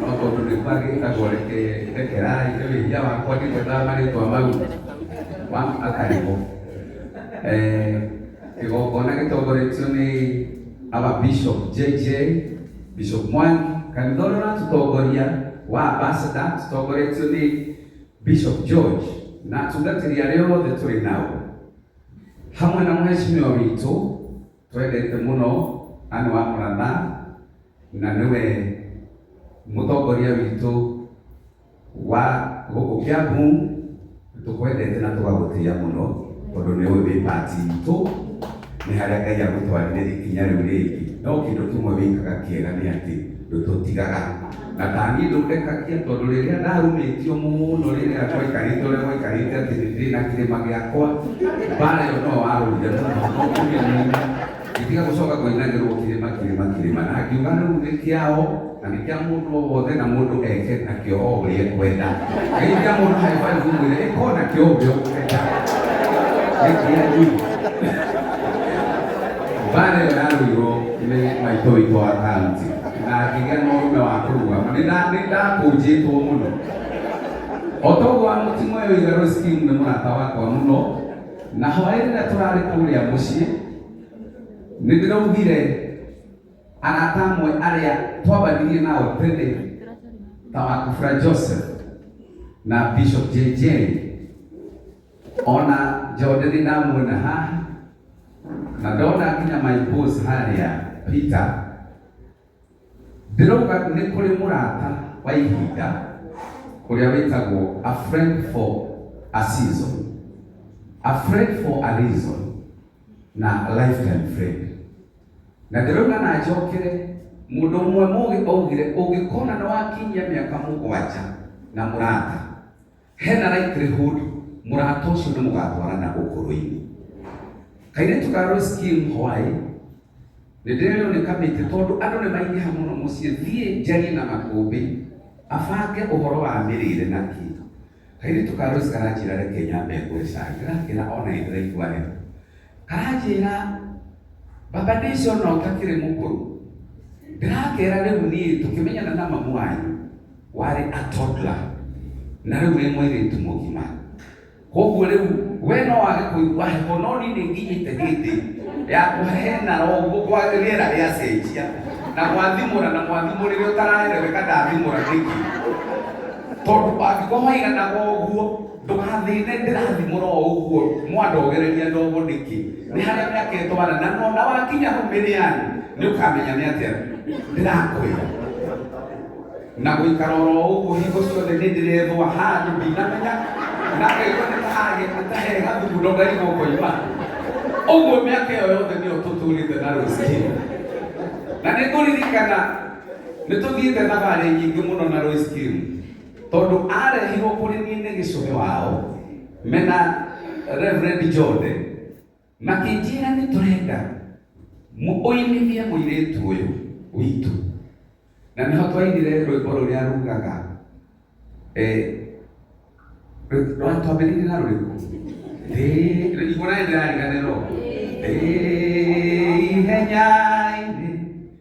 No tondũ nĩ kwagĩtagwo reke rekerai nĩ wĩhia wakwa ndigwetaga marĩtwa mau ma akarigwo Eh, kĩgongona gĩtongoretio nĩ aba bishop jj bishop mwangi kanitha ũrĩa ũratũtongoria wa ambasada tũtongoretio nĩ bishop george na atungatĩri arĩa othe tũrĩ nao hamwe na mheshimiwa witũ Twendete mũno na nĩ wa mũratha na nĩwe mũtongoria witũ wa gũkũ Kiambu. Tũkwendete na tũgagũtĩa mũno tondũ nĩ ũĩ wĩ part itũ, nĩ harĩa Ngai agũtwarire ikinya rĩu rĩngĩ. No kĩndũ kĩmwe wĩkaga kĩega nĩ atĩ ndũtũtigaga. na tani ndũrekagia tondũ rĩrĩa ndarumĩtio mũno rĩrĩa gwaikarĩte ũrĩa gwaikarĩte atĩ nĩ ndĩ na kĩrĩma gĩakwa mbara ĩyo no warũire mũno no kũmĩnina gĩtiga gũcoka kũinagĩrwo kĩrĩma kĩrĩma kĩrĩma na ngiuga rĩu nĩ kĩao na nĩ kĩa mũndũ o wothe na mũndũ eke nakĩo o ũrĩa ekwenda ngai kĩa mũndũ haĩbaĩ gũmwĩra ĩka o nakĩo ũrĩa ũkwenda nĩ kĩanyu mbara ĩyo yarũirwo nĩ maitũ witũ wa kaunti na ngĩgĩa na ũrume wa kũrugama nĩ nda- nĩ ndakũnjĩtwo mũno o toguo wa mũtimo ũyũ itherũ skim nĩ mũrata wakwa mũno na hwaĩ rĩrĩa tũrarĩ kũrĩa mũciĩ nĩ ndĩraugire arata amwe arĩa twambanirie nao tene ta wakubra joseph na bishop jj ona njonderi ndamuona haha na ndona nginya my boss harĩa peter ndĩrauga nĩ kũrĩ mũrata wa ihinda ũrĩa wĩtagwo a friend for a season a friend for a reason na lifetime friend na ndĩrauga na njokere mũndũ ũmwe mũgĩ augire ũngĩkona nĩ wakinyia mĩaka mũgwanja na mũrata Hena likelihood mũrata ũcio nĩ mũgatwarana ũkũrũ-inĩ. Kairĩtu ka Rose Kim Hwaĩ nĩ ndĩrerĩo nĩ kamĩtĩ tondũ andũ nĩ maingĩha mũno mũciĩ, thiĩ njarie na makũmbĩ abange ũhoro wa mĩrĩre na kĩ. Kairĩtu ka Rose karanjĩra reke nyambe ngũre cai, ndĩrakera ona nĩ ndĩraigua heho. Aranjĩra, baba ndĩcona ũtakĩrĩ mũkũrũ. Ndĩrakera rĩu niĩ tũkĩmenyana na mamu wanyu warĩ a toddler na rĩu wĩ mwĩrĩtu mũgima. Koguo rĩu we no wage kũigua heho no niĩ nĩ nginyĩte hĩndĩ ya kũhehenara ũguo kwa rĩera rĩacenjia na gwathimũra na mwathimũrĩre ũtaraereweka ndathimũra nĩkĩ? Tondũ angĩkorwo waiganaga ũguo Ndũgathĩne ndĩrathimũra o ũguo mwandogereria ndogo nĩkĩ? Nĩ harĩa mĩaka ĩtwara na no na wakinya hau mĩrĩani nĩ ũkamenya nĩ atĩa ndĩrakwĩra na gũikara oro ũguo hingo ciothe nĩ ndĩrethwa handũ ndinamenya na ngaigua nĩ tahage nĩ tahega thugundo ngaigua ngoima ũguo mĩaka ĩyo yothe nĩyo tũtũrĩte na rũciũ na nĩ ngũririkana nĩ tũthiĩte thabarĩ nyingĩ mũno na Royce Kim tondũ arehirwo kũrĩ niĩ nĩ gĩcũhĩ wao mena Reverend Jode makĩnjĩra nĩ tũrenda mu- ũinithie mũirĩtu ũyũ witũ na nĩho twainire rwĩmbo rũrĩa rugaga eh, rwĩ- rwa twambĩrĩirie na rũrĩkũ Ndĩ- igua naĩ ndĩrariganĩrwo Ndĩ ihenya-inĩ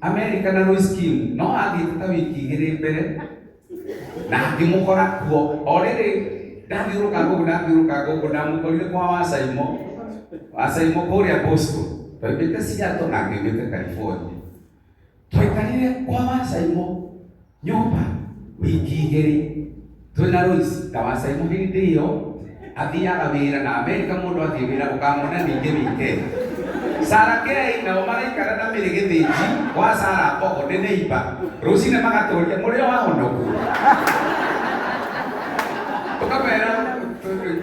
Amerika na Lois Kim no athiĩte ta wiki igĩrĩ mbere na ngĩmũkora kuo o rĩrĩ ndathiũrũkanga ũguo ndathiũrũkanga ũguo ndamũkorire kwa wacaimo wacaimo kũrĩa Boston twaimĩte Seattle na ngĩumĩte California twaikarire kwa wacaimo nyũmba wiki igĩrĩ twĩna Lois ndawacai mũhĩ hĩndĩ ĩyo athiaga wĩra na Amerika mũndũ athiĩ wĩra ũkamwona ningĩ weekend Sara Kei nao maraikara na mĩrĩ gĩthĩnji wa Sara Mbogo nĩ neiba rũcinĩ magatũria mũrĩ o ahonoku tũkamera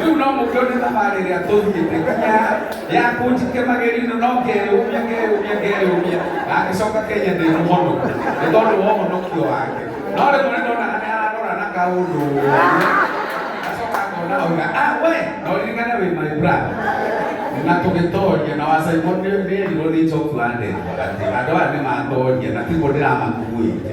rĩu no mũkĩone thabarĩ ĩrĩa tũthiĩte nginya ya kũnjike magerino no ngeyũmia ngeyũmia ngeyũmia na ngĩcoka kenya ndĩ mũhono nĩ tondũ wa ũhonokio wake no rĩmwe nĩ ndona nĩ ararora na kaũndũ acoka ngona oiga ah we no ririkane wĩ my brother na tũgĩtoria na wacaimwo nĩ erirwo nĩ njoki wa ndegwa atĩ andũ aya nĩ matoria na tiguo ndĩramakuĩte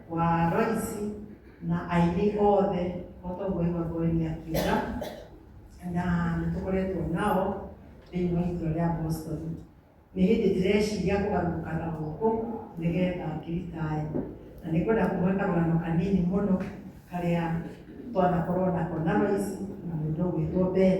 wa Royce na aini othe otoguo Igwa Ngoeni akiuga na nĩtũkoretwo nao thĩinĩ wa itũra rĩa Boston nĩ hĩndĩ ndĩreciria kũgarũrũka na gũkũ nĩgetha ngĩritae na nĩ kwenda kũhe karũgano kanini mũno karĩa twanakorwo nako na Royce na mũndũ ũgwĩtwo Ben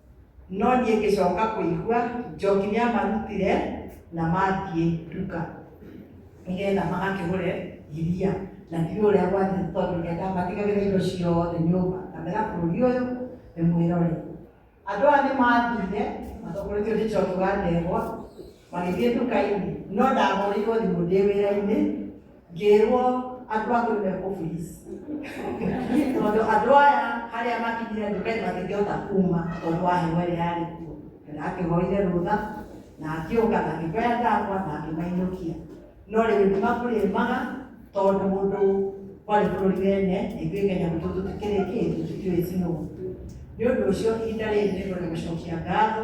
No niĩ ngĩcoka kũigua Njoki nĩ amarutire na mathiĩ nduka nĩgetha magakĩgũre iria na ndiũ ũrĩa gwathiĩ tondũ nĩgetha matigagĩre indo ciothe nyũmba kamera bũrũri ũyũ nĩ mwĩrore andũ aya nĩ mathire matongoretio nĩ Njoki wa Ndegwa Magĩthiĩ nduka-inĩ, no ndahũrĩirwo thimũ ndĩ wĩra-inĩ, ngĩrwo andũ a kũu me office. Tondũ andũ aya harĩa makinyire nduka-inĩ matingĩhota kuma tondũ wa heho ĩrĩa yarĩ kuo. Ndakĩhoire rũtha, na akĩũka na akĩoya andũ akwa na akĩmainũkia. No rĩu nĩ makũrĩmaga tondũ mũndũ kwarĩ bũrũri wene, na ithuĩ Kenya gwitũ tũtikĩrĩ kĩ, tũtikĩũĩ snow. Nĩ ũndũ ũcio ihinda rĩrĩ nĩ ngwenda gũcokia ngatho